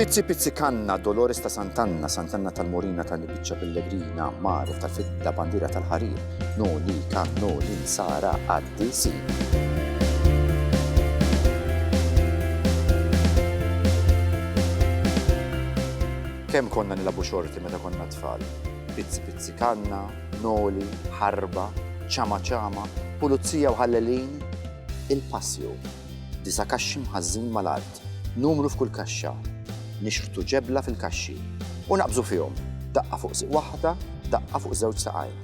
Pizzi pizzi kanna, Dolores ta' Santanna, Santanna tal-Morina tal-Biċċa Pellegrina, Mare ta' Fidda, Bandira tal-Ħarir, No li kan no li sara għaddi si. Kemm konna nilabu xorti meta konna tfal? Pizzi pizzi kanna, noli, ħarba, ċama ċama, pulizija u ħallelin, il-passju, disa' kaxxi mħażżin mal-art, numru f'kull kaxxa, nixħtu ġebla fil-kaxxi u naqbżu fihom, daqqa fuq sieq waħda, daqqa fuq żewġ saqajn.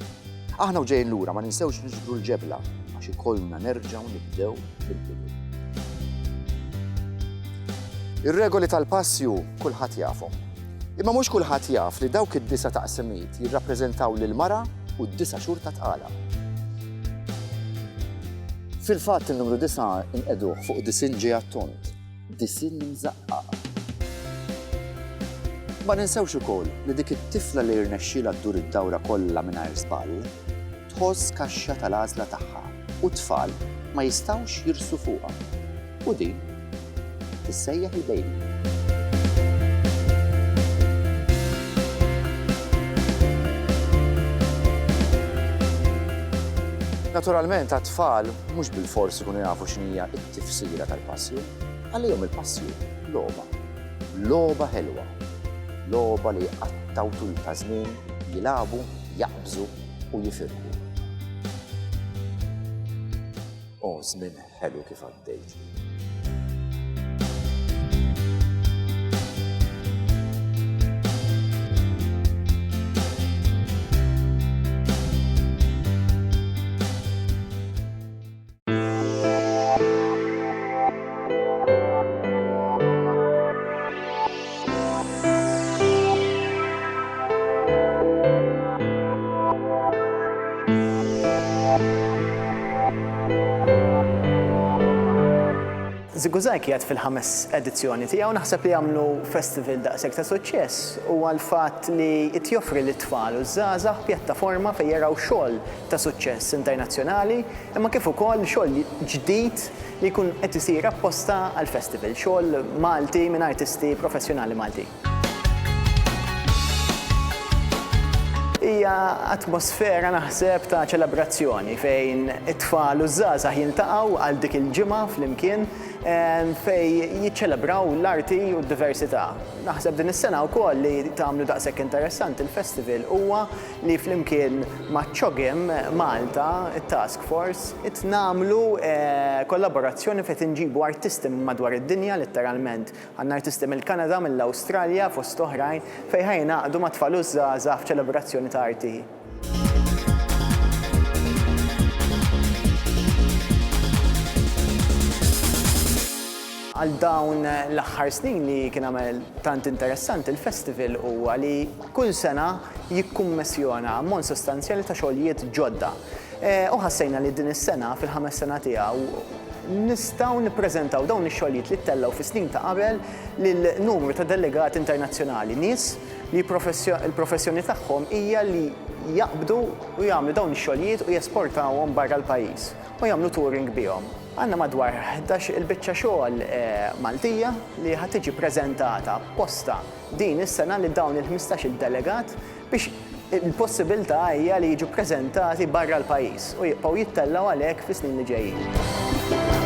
Aħna u ġejjin lura ma ninsewx niġbru l-ġebla għax ikollna nerġgħu nibdew mill-bidu. Ir-regoli tal-passju kulħadd jafhom. Imma mhux kulħadd jaf li dawk id-disa' taqsimiet jirrappreżentaw lill-mara u d-disa' xhur ta' tqala. Fil-fatt in-numru disa' inqegħduh fuq disinn ġej għat-tont, disinn imżaqqaq. Ma ninsewx ukoll li dik it-tifla li jirnexxilha ddur id-dawra kollha mingħajr żball, tħoss kaxxa tal-għażla tagħha u t-tfal ma jistgħux jirsu fuqha u din tissejjaħ il-baby. Naturalment għat-tfal mhux bilfors ikunu jafu x'inhija t-tifsira tal-passju, għalihom il-passju logħba. Logħba ħelwa. Logħba li jqattgħu tul ta' żmien, jilagħbu, jaqbżu, u jifirħu. O żmien ħelu kif għaddejt. Ziguzaj qiegħed fil-ħames edizzjoni tiegħu naħseb li jagħmlu festival daqshekk ta' suċċess u għall-fatt li qed joffri lit-tfal u ż-żgħażagħ pjattaforma fejn jaraw xogħol ta' suċċess internazzjonali imma kif ukoll xogħol ġdid li jkun qed isir apposta għall-festival, xogħol Malti minn artisti professjonali Maltin. Hija atmosfera naħseb ta' ċelebrazzjoni fejn it-tfal u ż-żgħażagħ jiltaqgħu għal dik il-ġimgħa flimkien fejn jiċċelebraw l-arti u d-diversità. Naħseb din is-sena wkoll li tagħmlu daqshekk interessanti l-festival huwa li flimkien maċ-CHOGM Malta, it-Task Force, qed nagħmlu kollaborazzjoni fejn qed inġibu artisti minn madwar id-dinja, litteralment. Għandna artisti mill-Kanada, mill-Awstralja, fost oħrajn, fejn ħa jingħaqdu mat-tfal u ż-żgħażagħ f'ċelebrazzjoni ta' arti. Għal dawn l-aħħar snin li kien għamel tant interessanti l-festival huwa li, kull sena jikkummissjona ammont sostanzjali ta' xogħlijiet ġodda. U ħassejna li din is-sena, fil-ħames sena tiegħu, nistgħu nippreżentaw dawn ix-xogħlijiet li ttellgħu fis-snin ta' qabel lil numru ta' delegati internazzjonali, nies li l-professjoni tagħhom hija li jaqbdu u jagħmlu dawn ix-xogħlijiet u jesportawhom barra l-pajjiż u jagħmlu touring bihom. Għandna madwar ħdax-il biċċa xogħol Maltija li ħa tiġi ppreżentata apposta. Din is-sena li dawn il-ħmistax-il delegat biex il-possibiltà hija li jiġu ppreżentati barra l-pajjiż u jibqgħu jittellgħu għalhekk fis-snin li ġejjin.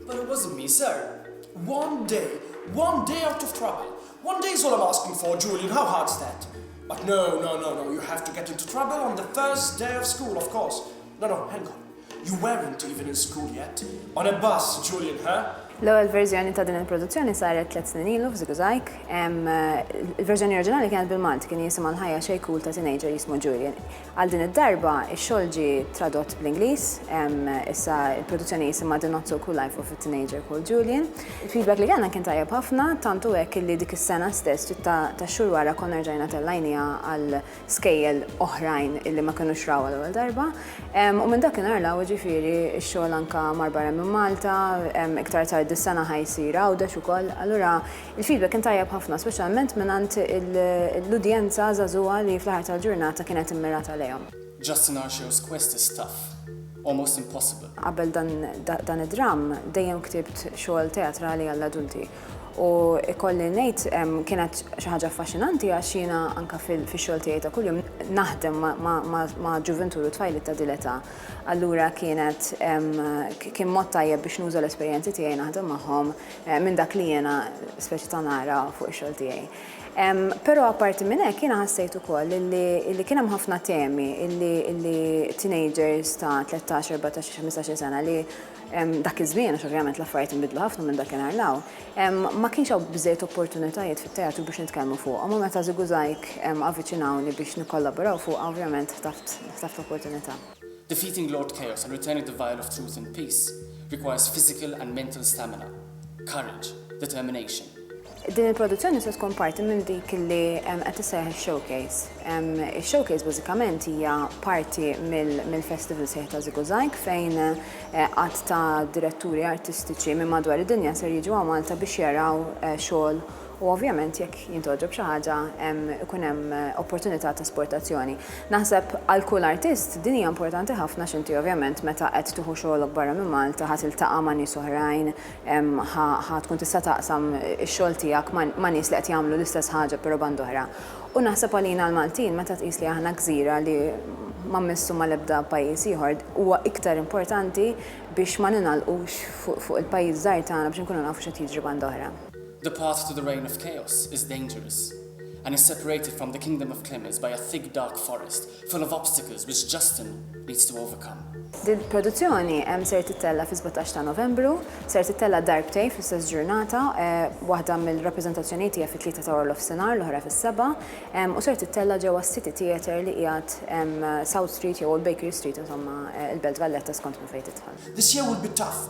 But it wasn't me, sir. One day, one day out of trouble. One day is all I'm asking for, Julian. How hard's that? But no, no, no, no. You have to get into trouble on the first day of school, of course. No, no, hang on. You weren't even in school yet. On a bus, Julian, huh? L-ewwel verżjoni ta' din il-produzzjoni saret tliet snin ilu f'Ziguzajk. Eh, il-verżjoni oriġinali kienet bil-Malti kien jisimha l-ħajja xejkul ta' teenager jismu Julian. Għal din id-darba, ix-xogħol ġie tradott bl-Ingliż, issa l-produzzjoni jisimha The Not So Cool Life of a Teenager Called Julian. Il-feedback li kellna kien tajjeb ħafna, tant hu hekk illi dik is-sena stess, ftit ta' xhur wara konna rġajna tellajniha għal skejjel oħrajn illi ma kinux rawha l-ewwel darba. U minn dakinhar 'l hawn, jiġifieri, ix-xogħol anke mar barra minn Malta, iktar tard dis-sena ħa jsir Għawdex ukoll. Allura Il-feedback kien tajjeb ħafna, speċjalment mingħand l-udjenza żagħżugħa li fl-aħħar tal-ġurnata kienet immirata lejhom. Just in our shows quest is tough, almost impossible. Qabel dan id-dramm dejjem ktibt xogħol teatrali għall-adulti u ikolli ngħid kienet xi ħaġa affaxxinanti għax jiena anke fix-xogħol tiegħi ta' kuljum naħdem ma' ġuvintur u tfajliet ta' din l-età. Allura kienet kien mod tajjeb biex nuża l-esperjenzi tiegħi naħdem magħhom minn dak li jiena speċi ta' nara fuq ix-xogħol tiegħi. Però apparti minn hekk jiena ħassejt ukoll li kien hemm ħafna temi li teenagers ta' 13, 14, 15 sena li dak iż-żmien, għax ovvjament l-affarijiet inbidlu ħafna minn dakinhar 'l hawn, ma kienx hawn biżżejjed opportunitajiet fit-teatru biex nitkellmu fuqhom u meta Żiguzajk avviċinawni biex nikkollaboraw fuqha ovvjament ħtaft opportunità. Defeating Lord Chaos and returning the vial of truth in peace requires physical and mental stamina, courage, determination, Din il-produzzjoni se tkun parti minn dik li qed issejjaħ ix-Showcase. Ix-Showcase bażikament hija parti mill-festival sħiħ ta' Ziguzajk fejn għadd ta' diretturi artistiċi minn madwar id-dinja ser jiġu hawn Malta biex jaraw xogħol u ovvjament jekk jintgħoġob xi ħaġa hemm ikun hemm opportunità ta' esportazzjoni. Naħseb għal kull artist din hija importanti ħafna għax inti ovvjament meta qed tieħu xogħolok barra minn Malta ħa tiltaqa' ma' nies oħrajn, ħa ħa tkun tista' taqsam ix-xogħol tiegħek ma' ma' nies li qed jagħmlu l-istess ħaġa però band'oħra. U naħseb għalina l-Maltin meta tqis li aħna gżira li ma mmissu mal-ebda pajjiż ieħor huwa iktar importanti biex ma ningħalqux fuq fuq il-pajjiż żgħir tagħna biex inkunu nafu x'qed jiġri band'oħra. The path to the reign of chaos is dangerous and is separated from the kingdom of Clemens by a thick dark forest full of obstacles which Justin needs to overcome. Din il-produzzjoni ser tittella' fi 17 ta' Novembru, ser tittella' darbtejn fl-istess ġurnata, waħda mill-rappreżentazzjonijiet hija fit-tlieta ta' warnofsinhar, l-oħra fis-sebgħa, u ser tittella' ġewwa s-City Theatre li qiegħed South Street jew Old Bakery Street, insomma, il-Belt Valletta skont minn fejn tidħol. This year will be tough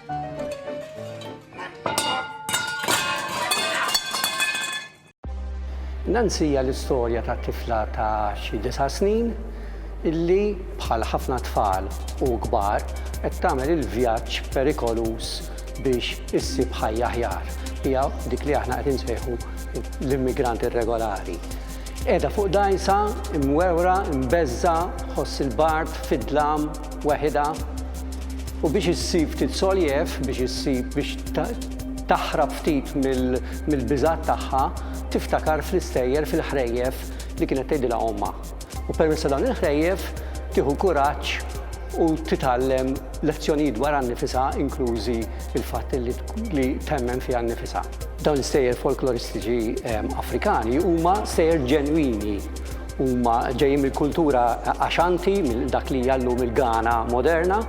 Nancy hija l-istorja ta' tifla ta' xi disa' snin illi bħal ħafna tfal u kbar qed tagħmel il-vjaġġ perikoluż biex issib ħajja aħjar. Hija dik li aħna qed insejħu l-immigrant irregolari. Qiegħda fuq dajsa, imwewra, imbeżża, ħoss il-bard, fid-dlam, weħidha u biex issib ftit soljef, biex issib biex taħrab ftit mill-biżgħat tagħha, tiftakar fl-istejjer, fil-ħrejjef li kienet tgħidilha ommha. U permezz ta' dawn il-ħrejjef tieħu kuraġġ u titgħallem lezzjonijiet dwarha nnifisha inklużi l-fatt li temmen fiha nnifisha. Dawn l-istejjer folkloristiċi Afrikani huma stejjer ġenwini Huma ġejjin mill-kultura Ashanti, minn dak li hija llum il-Ghana moderna,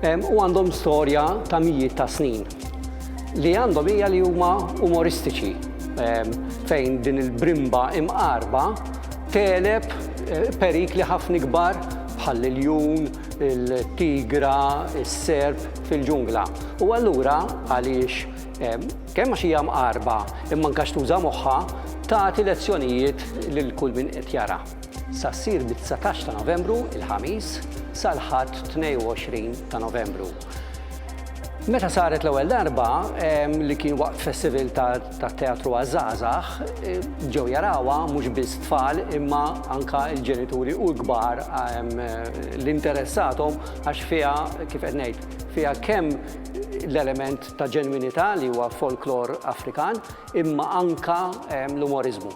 u għandhom storja ta' mijiet ta' snin. Li għandhom hija li huma umoristiċi, fejn din il-brimba imqarrba tegħleb perikli ħafna ikbar bħal iljun, tigra, is-serp fil-ġungla. U allura għaliex Kemm għax hija mqarrba imma anke għax tuża moħħha, tagħti lezzjonijiet lil kull min qed jara. Sa ssir mit-dsatax ta' Novembru, il-Ħamis, sal-Ħadd 22 ta' Novembru. Meta saret l-ewwel darba li kien waqt festival tat-teatru għaż-żgħażagħ, ġew jarawha mhux biss tfal imma anke l-ġenituri u l-kbar li interessathom għax fiha, kif qed ngħid, fiha kemm l-element ta' ġenwinità li huwa folklor Afrikan imma anke l-umoriżmu.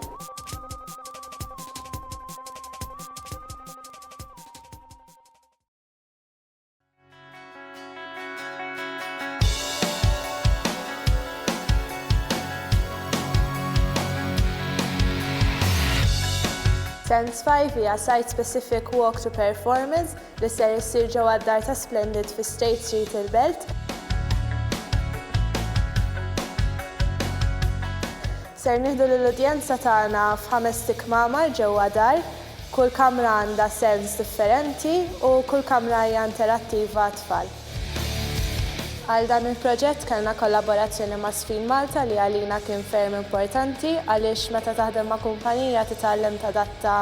Sense Five hija site-specific walk to performance li ser issir ġewwa d-dar ta' Splendid fi State Street il-Belt, ser nieħdu lill-udjenza tagħna f'ħamest ikmamar ġewwa dar, kull kamra għandha sens differenti u kull kamra hija interattiva għat-tfal. Għal dan il-proġett kellna kollaborazzjoni ma' Spin Malta li għalina kien ferm importanti għaliex meta taħdem ma' kumpanija titgħallem tadatta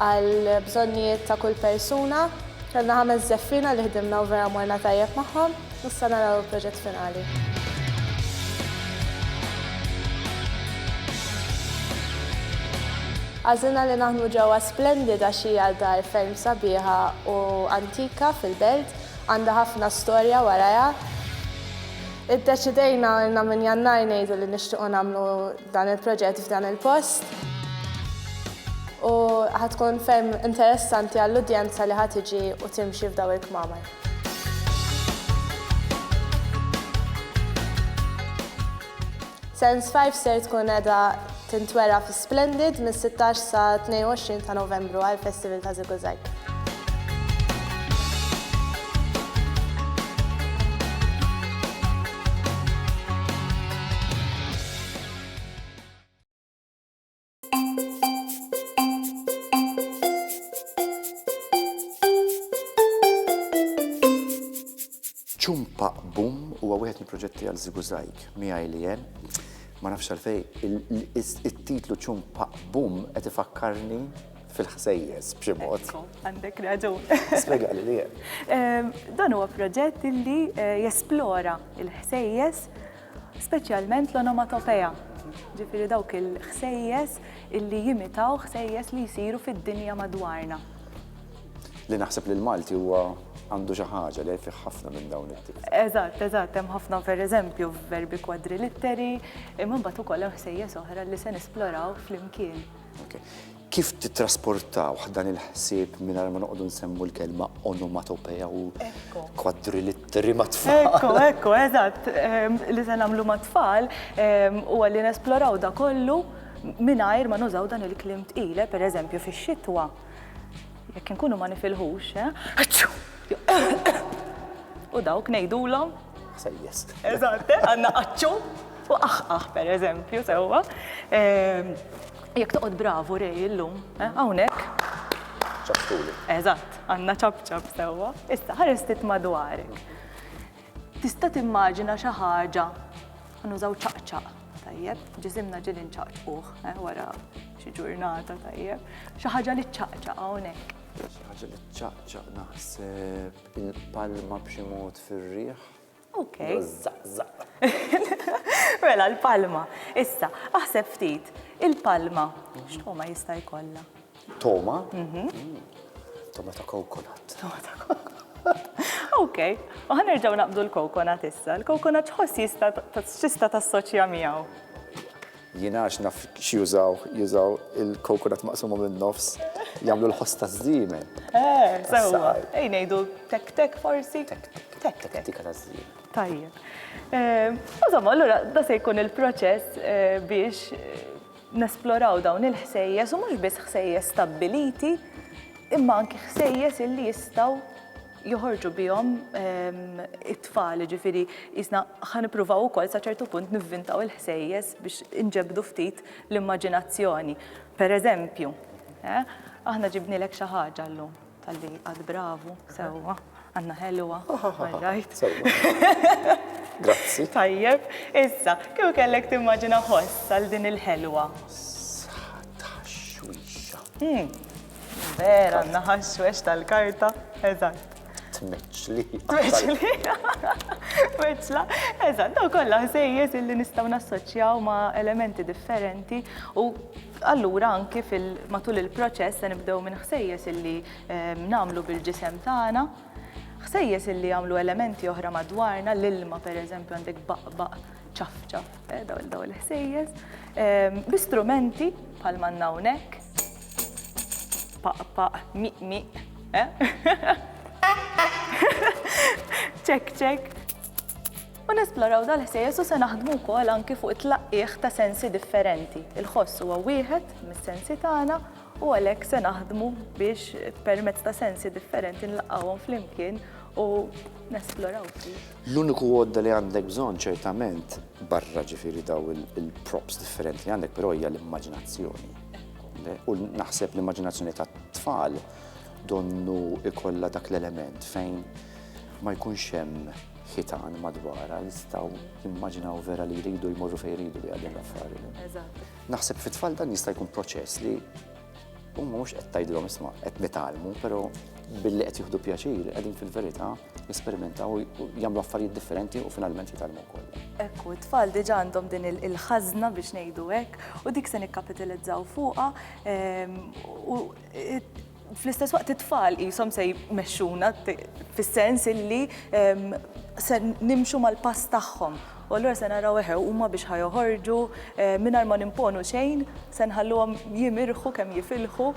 għall-bżonnijiet ta' kull persuna. Kellna ħames żeffiena li ħdimna u vera morna tajjeb magħhom u issa naraw il-proġett finali. Għażilna li naħdmu ġewwa Splendid għax hija dar ferm sabiħa u antika fil-Belt, għandha ħafna storja warajha. Iddeċidejna, ilna minn Jannar ngħidu li nixtiequ nagħmlu Dan il-proġett f'dan il-post u ħatkun ferm interessanti għall-udjenza li ħatiġi u timxi f'daw il-kmamar. Sense 5 ser tkun edha tintwera fi Splendid mis-16 sa 22 ta' Novembru għal Festival ta' Ziguzag. Ċumpa Bum huwa wieħed mill-proġetti għal Zigu Zajk miegħi li jen. Ma nafx għalfej, it-titlu Ċumpa Bum qed ifakkarni fil-ħsejjes b'xi mod. Għandek raġun. Spjega li li. Dan huwa proġett li eh, jesplora il-ħsejjes speċjalment l-onomatopea, ġifieri dawk il-ħsejjes illi jimitaw ħsejjes li jsiru fid-dinja madwarna. Li naħseb li l-Malti huwa għandu xi ħaġa li fih ħafna minn dawn it-tip. Eżatt, eżatt, hemm ħafna pereżempju verbi kwadrilitteri, imma mbagħad ukoll hemm ħsejjes oħra li se nisploraw flimkien. Kif tittrasportawh dan il-ħsieb mingħajr ma noqogħdu nsemmu l-kelma onomatopeja u kwadrilitteri mat-tfal? Ekku, ekku, eżatt. Li se nagħmlu mat-tfal huwa li nesploraw dak kollu mingħajr ma nużaw dan il-kliem tqil. Pereżempju, fix-xitwa, jekk inkunu ma nifilħux, aċċu! U dawk ngħidulhom? Ħsejjes. Eżatt, għandna aċċu u aħħaħ, pereżempju, sewwa. Jekk toqgħod bravu Ray illum, eh, hawnhekk. Ċaptuli. Eżatt, għandna ċapċap sewwa. Issa ħares ftit madwarek. Tista' timmaġina xi ħaġa nużaw ċaqċaq, tajjeb, ġisimna ġieli nċaqċquh, eh, wara xi ġurnata tajjeb. Xi ħaġa li ċaqċaq hawnhekk. Xi ħaġa li ċaqċaq naħseb il-palma b'xi mod fir-riħ. Ok. Mela l-palma. Issa, aħseb ftit, il-palma x'togħma jista' jkollha? Togħma? Mhm. Togħma ta' kokonat. Togħma ta' kokonat. Ok, u ħanerġgħu naqbdu l-kokonat issa. L-kokonat x'ħoss jista' x'tista' tassoċja miegħu? Jien għax naf x'jużaw, jużaw il-coconut maqsuma min-nofs, jagħmlu l-ħoss taż-żiemel. Eh, sewwa. Ej ngħidu tek-tek forsi? Tek-tek. Tek-tek. Tek-tek taż-żiemel. Tajjeb. Insomma, allura da se jkun il-proċess biex nesploraw dawn il-ħsejjes u mhux biss ħsejjes stabbiliti imma anki ħsejjes illi jistgħu joħorġu bihom it-tfal, jiġifieri qisna ħa nippruvaw ukoll sa ċertu punt nivvintaw il-ħsejjes biex inġebdu ftit l-immaġinazzjoni. Per eżempju, eh, aħna ġibnilek xi ħaġa llum tal-li għad bravu, sewwa, għandna ħelwa, rajt. Grazzi. Tajjeb, issa, kif kellek timmaġina ħoss għal din il-ħelwa? Sħat ħaxwixa. Hmm. Vera, għandna ħaxwex tal-karta, eżatt. Tmeċli. Tmeċli. Meċla. Eżatt, daw kollha ħsejjes illi nistgħu nassoċjaw ma' elementi differenti u allura anki fil-matul il-proċess se nibdew minn ħsejjes illi ehm, nagħmlu bil-ġisem tagħna ħsejjes illi jagħmlu elementi oħra madwarna, l-ilma per eżempju għandek baqbaq ċafċaf, eh, daw l-ħsejjes, ehm, bi strumenti bħal mannawnek, Paq paq, miq miq, ċekk ċekk. U nesploraw dal-ħsejjes u se naħdmu wkoll anki fuq it-tlaqqigħ ta' sensi differenti. Il-ħoss huwa wieħed mis-sensi tagħna u għalhekk se naħdmu biex permezz ta' sensi differenti nlaqqgħuhom flimkien u nesploraw ftit. L-uniku għodda li għandek bżonn ċertament, barra ġifieri dawn il-props differenti li għandek, però hija l-immaġinazzjoni. U naħseb l-immaġinazzjoni tat-tfal donnu ikollha dak l-element fejn ma jkunx hemm ħitan madwara jistgħu jimmaġinaw vera li jridu jmorru fejn jridu li għadin l-affarijiet. Naħseb fit-tfal dan jista' jkun proċess li huma mhux qed tgħidilhom isma' qed nitgħallmu, però billi qed jieħdu pjaċir qegħdin fil-verità Jesperimentaw, jagħmlu affarijiet differenti u finalment jitgħallmu wkoll. Ekku, t-tfal diġà għandhom din il-ħażna biex ngħidu hekk u dik se nikkapitilizzaw fuqha ehm, u fl-istess waqt it-tfal jisom se jmexxuna fis-sens illi ehm, se nimxu mal-pass tagħhom U allura se naraw, eħe, huma biex ħa joħorġu mingħajr ma nimponu xejn, se nħalluhom jimirħu kemm jifilħu.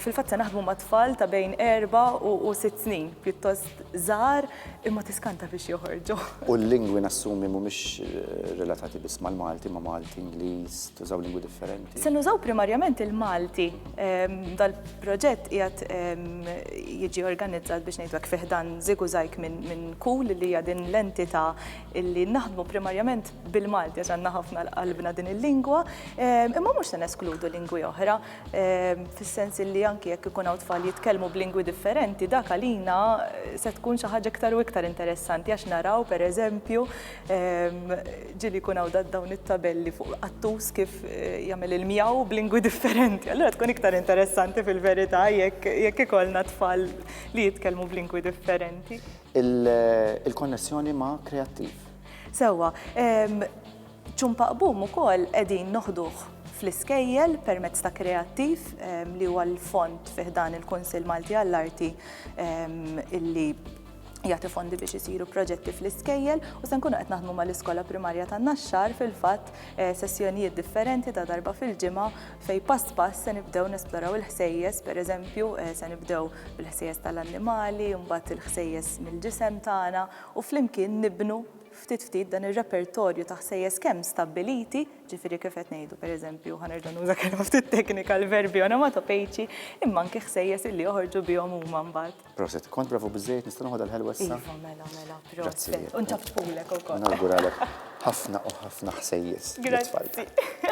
Fil-fatt se naħdmu ma' tfal ta' bejn erba' u sitt snin, pjuttost żgħar, imma tiskanta biex joħorġu. U l-lingwi nassumi mhumiex relatati biss mal-Malti, ma' Malti, Ingliż, tużaw lingwi differenti? Se nużaw primarjament il-Malti. Dal-proġett qiegħed jiġi organizzat biex ngħidu hekk fi ħdan Ziguzajk minn Kul li hija din l-entità li naħdmu primarjament bil-Malti għax għandna ħafna l-qalbna din il-lingwa, imma mhux se neskludu lingwi oħra fis-sens li anki jekk ikun hawn tfal jitkellmu b'lingwi differenti dak għalina se tkun xi ħaġa iktar u iktar interessanti għax naraw pereżempju Ġieli jkun hawn dawn it-tabelli fuq qattus kif jagħmel il-mjaw b'lingwi differenti. Allura tkun iktar interessanti fil-verità jekk ikollna tfal li jitkellmu b'lingwi differenti. Il-konnessjoni ma' kreattiv. Sewwa. Ċumpaqbum ukoll qegħdin noħduh fl-iskejjel permezz ta' kreattiv li huwa l-fond fi ħdan il-Kunsill Malti għall-Arti illi jagħti fondi biex isiru proġetti fl-iskejjel u se nkunu qed naħdmu mal-iskola primarja ta' Naxxar fil-fatt eh, sessjonijiet differenti ta' darba fil-ġimgħa fej pass pass se nibdew nesploraw il-ħsejjes, pereżempju eh, se nibdew bil-ħsejjes tal-annimali, mbagħad il-ħsejjes mill-ġisem tagħna u flimkien nibnu ftit ftit dan ir-repertorju ta' ħsejjes kemm stabbiliti, ġifieri kif qed ngħidu pereżempju ħanerġa' nuża kelma ftit teknika l-verbi onomatopejċi, imma anke ħsejjes illi joħorġu bihom huma mbagħad. Proset, kont bravu bizzejt, nista' noħodha l-ħelwa issa? Iva, mela, mela, proset. U ntaftqulek ukoll. Nawguralek ħafna u ħafna ħsejjes. Grazzi.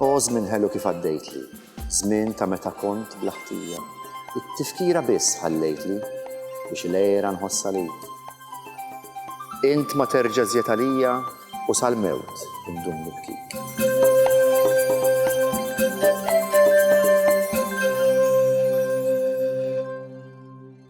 O żmien ħelu kif għaddejtli, żmien ta' meta kont bla ħtija. It-tifkira biss ħallejtli biex il-għera nħossa lejk. Int ma terġa' żjed għalija u sal-mewt indum nibkik.